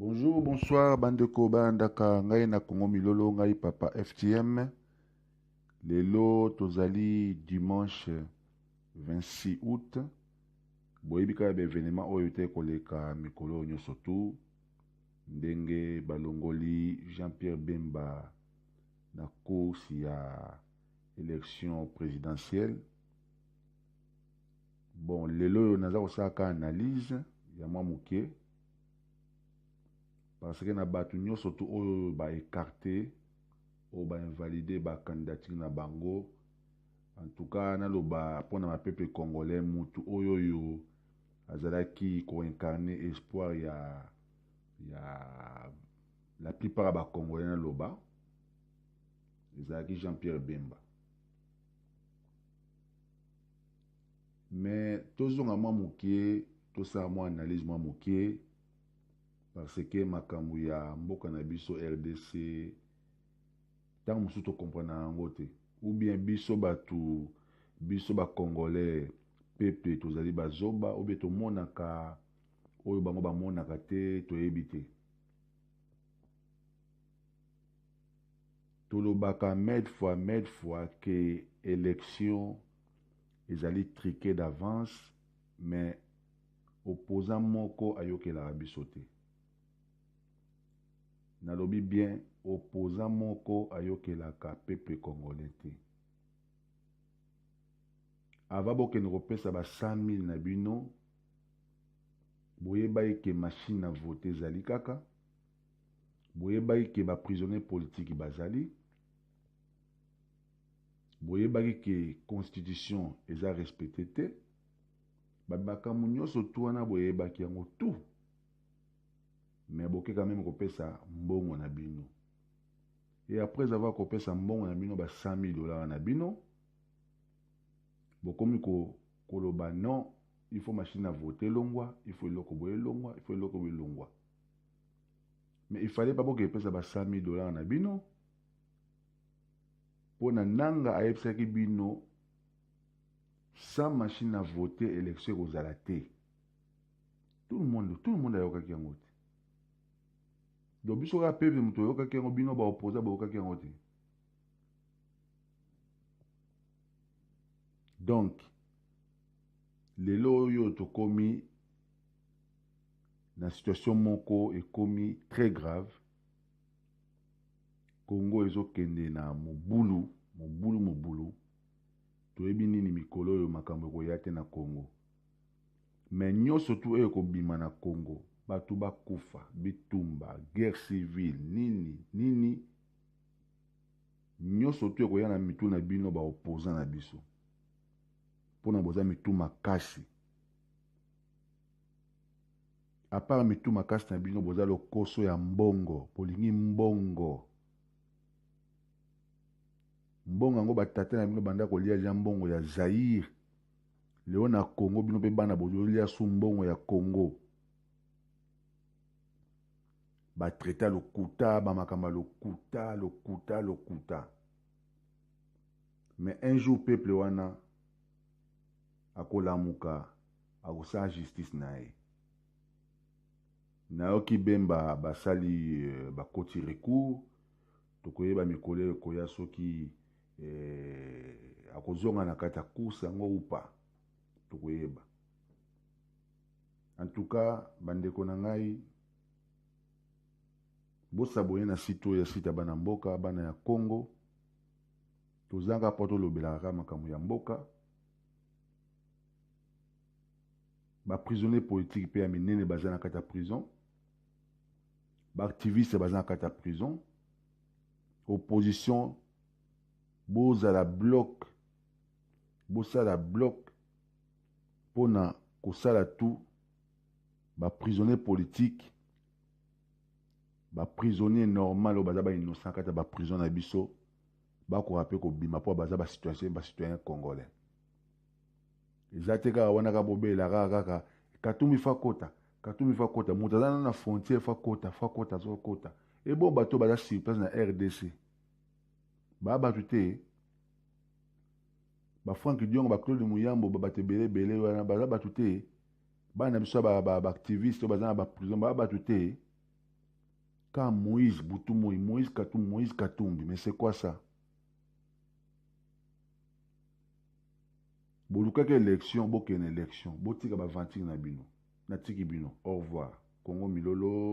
Bonjour, bonsoir, bandeko bandaka ngai na Congo Milolo, ngai papa FTM. Lelo tozali dimanche 26 août. Boyebi kaka baevenema oyo te koleka mikolo oyo nyonso tu ndenge balongoli Jean-Pierre Bemba na course ya Election presidentielle. Bon, lelo oyo naza kosala ka analyse ya mwa moke parce que na bato nyonso tu oyo ba écarté oyo ba invalide ba candidature na bango en tout cas naloba mpo na bapeple congolais mutu oyo oyo azalaki koincarne espoir ya ya la plupart ya bacongolais naloba ezalaki jean pierre bemba mais tozonga mwa moke tosala mwa analyse mwa moke parce que makambo ya mboka na biso rdc ntango mosusu tokomprana yango te ou bien biso bato biso bacongolais peple tozali bazoba ou bien tomonaka oyo bango bamonaka te toyebi te Tolobaka made fois made fois que election ezali trique d'avance mais opposant moko ayokelaka biso te. Nalobi bien opposant moko ayokelaka peuple congolais te. Ava bokende kopesa ba 100.000 na bino boyebaki ke machine na vote ezali kaka boyebaki ke ba prisonniers politiques bazali boyebaki ke constitution eza respecte te bamakambo nyonso tu wana boyebaki yango tout mais boke quand même kopesa mbongo na bino et après avoir kopesa mbongo na bino ba 100 000 dollars na bino bokomi ko koloba non il faut machine à voter longwa il faut eloko boye longwa il faut eloko boye longwa mais il fallait pas bokende pesa ba 100 000 dollars na bino mpo na nanga ayebisaki bino sans machine na vote élection ekozala te tout le monde tout le monde ayokaki yango te donc biso kaka peuple moto oyokaki yango bino baoposa boyokaki yango te donc lelo oyo tokomi na situation moko ekomi très grave congo ezokende na mobulu mobulu mobulu toyebi nini mikolo oyo makambo ekoya te na congo me nyonso tu oyo ekobima na congo bato bakufa bitumba guerre civile nini nini nyonso tu ekoya na mitu na bino baopoza na biso mpo na boza mitu makasi apart mitu makasi na bino boza lokoso ya mbongo bolingi mbongo mbongo yango batata na bino banda kolia ja mbongo ya zaire leo na congo bino mpe bana bozolia su mbongo ya congo batraita lokuta bamakambo ya lokuta lokuta lokuta mais un jour peuple wana akolamuka Akosala justice naye. Nayoki Bemba basali euh, bakoti recours. Tokoyeba mikolo ekoya soki eh, akozonga na kati ya course yango upa. Tokoyeba. En tout cas, bandeko na ngai bosabone na site oyo ya site ya bana mboka bana ya congo tozanga mpo tolobelaka kaka makambo ya mboka ba prisonniers politiques pe ya minene baza na kati ya prison ba activistes baza na kati ya prison opposition bozala bloc bosala bloc mpo na kosala tout ba prisonniers politiques ba prisonniers normal oyo baza ba innocent kati ya ba prison na biso bakoka mpe kobima mpo baza ba citoyen ba citoyen congolais eza te kaka wana kaka bobela kaka kaka katumbi fa kota katumbi fa kota moto aza na frontière fa kota fa kota so kota ebo bato baza sur place na rdc baa bato te bafrank diongo baclaude muyambo babato ebele ebele wana baza bato te bana na biso ya baactiviste oyo baza na baprison baa bato te ka moïse butu moi moïse katumbi moïse katumbi mais c'est quoi ça bolukaki election bokende election botika ba aventure na bino natiki bino au revoir congo milolo